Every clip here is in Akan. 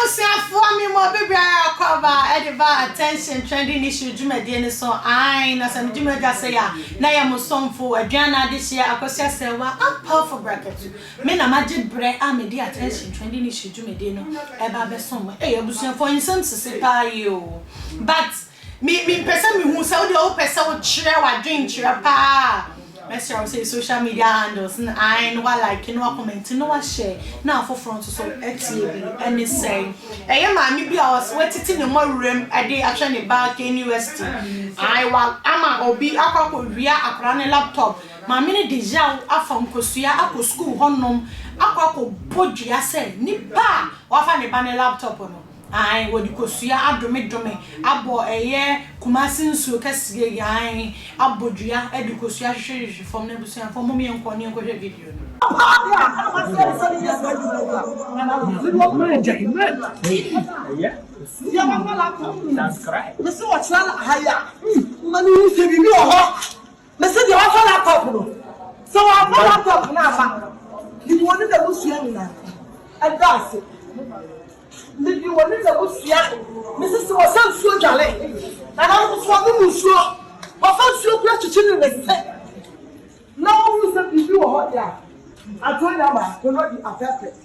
abusuafoɔ me mu obi biara akɔ aba ɛde ba attention trending issue dwumadie no so ae na sɛ me dwumadi ase yɛ a na yɛ mo somfo aduana adehyeɛ akɔsi asɛwa ampafo bracket Me na magye berɛ a mede attention trending issue dwumadie no ɛba abɛsom mo ei abusuafoɔ nsɛm sisi paa yie o but me me mpɛ sɛ mehu sɛ wodeɛ wopɛ sɛ wokyerɛ wadwen kyerɛ paa mɛsrɛ wo sɛ social media handles no ae no wa like no wa comment no wa share na afoforɔ nso so atie bi ɛne sɛ ɛyɛ maame bi a ɔsɛ watiti ne mmɔ wuram ɛde ahwɛ ne ba KNUST ae wa ama obi akɔ akɔ wia akora ne laptop Maame no de yaw afa nkosua akɔ sukuu hɔnom akɔ akɔbɔ dua sɛ nipa a wafa ne ba ne laptop no, ae, wɔde kosua adomedome abɔ ɛyɛ Kumasi nsuo kɛseɛ yi, ae, abɔ dua de kosua hwehwehwehwe fam no abusuafoɔ mom yɛnkɔ ne yɛnkɔhwɛ video no. Mese deɛ wafa laptop no sɛ wamfa laptop no ama mede wɔne n'abusua nyinaa ɛda ase mede wɔne n'abusua mese sɛ wɔsɛ nsuo dwale nana nso ɔnom nsuo wɔfa nsuo kura kyekye ne ne se na wɔhu sɛ biribi wɔ hɔ deɛ a adwo nyama kɔnɔ di afɛfɛ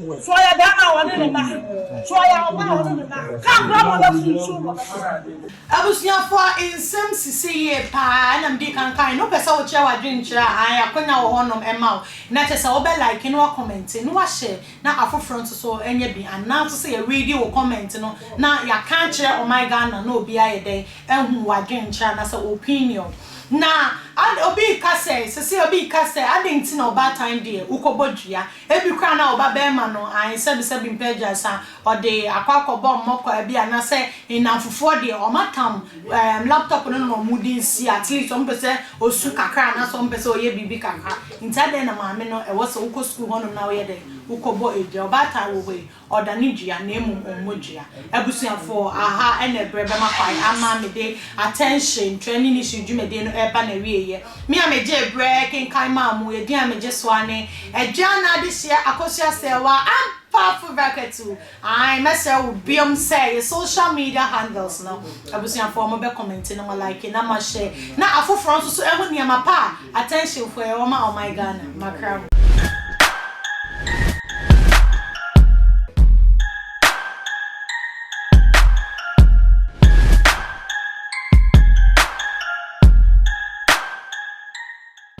So ɔyɛ bɛrima a ɔne ne mma? So ɔyɛ ɔbaa a ɔne ne mma? Ka bra ma ɔbɛforo nsuo mu ɔbɛkasa. Abusuafo a nsɛm sisi yie paa ɛna mede kan kae no wopɛ sɛ wokyerɛ w'adwene kyerɛ a ae akonya wɔ hɔnom ɛma wo na kyerɛ sɛ wobɛ like na woakɔmɛnte na woahyɛ na afoforɔ nso so ɛnyɛ bi anaa nso sɛ yɛreadi wo kɔmɛnt no na yɛaka akyerɛ ɔman Ghana na obi ayɛ dɛn ahu w'adwene kyerɛ anaasɛ wo opinion na obi reka sɛ sesei obi reka sɛ adɛn nti na ɔbaatan deɛ wokɔbɔ dua Ebi koraa na ɔba barima no ae sɛbi sɛbi mpɛ agyasa ɔde akɔ akɔbɔ mmɔkɔa bi ana sɛ nnamfofoɔ deɛ ɔmo atam ɛɛm laptop no na ɔmo de nsi at least ɔmo pɛsɛ ɔsu kakra ana sɛ ɔmo pɛsɛ ɔyɛ biribi kakra nti adɛn na maame no ɛwɔ sɛ wokɔ sukuu hɔ nom na woyɛ dɛn wokɔ bɔ adwa ɔbaatan wɔ hɔ yi Ɔdane dua na mmom ɔmmɔ dua. Abusuafo aha na ɛberɛ bɛma kwan ama me de Attention, Twerɛ ne Nniso dwumadie no reba n'awieeɛ. Me a megyee berɛ kenkan maa mo, edin a megye so ara ne Adwaa no Adehyeɛ Akosua Serwaa Ampah Foverah Katu. Ae, mɛsrɛ wo biom sɛ yɛ social media handles no, abusuafo a wɔbɛ commente no mo like na mo share na afoforɔ nso so ahu nneɛma pa a Attention foɔ yɛwɔ ma ɔman Ghana makra ho.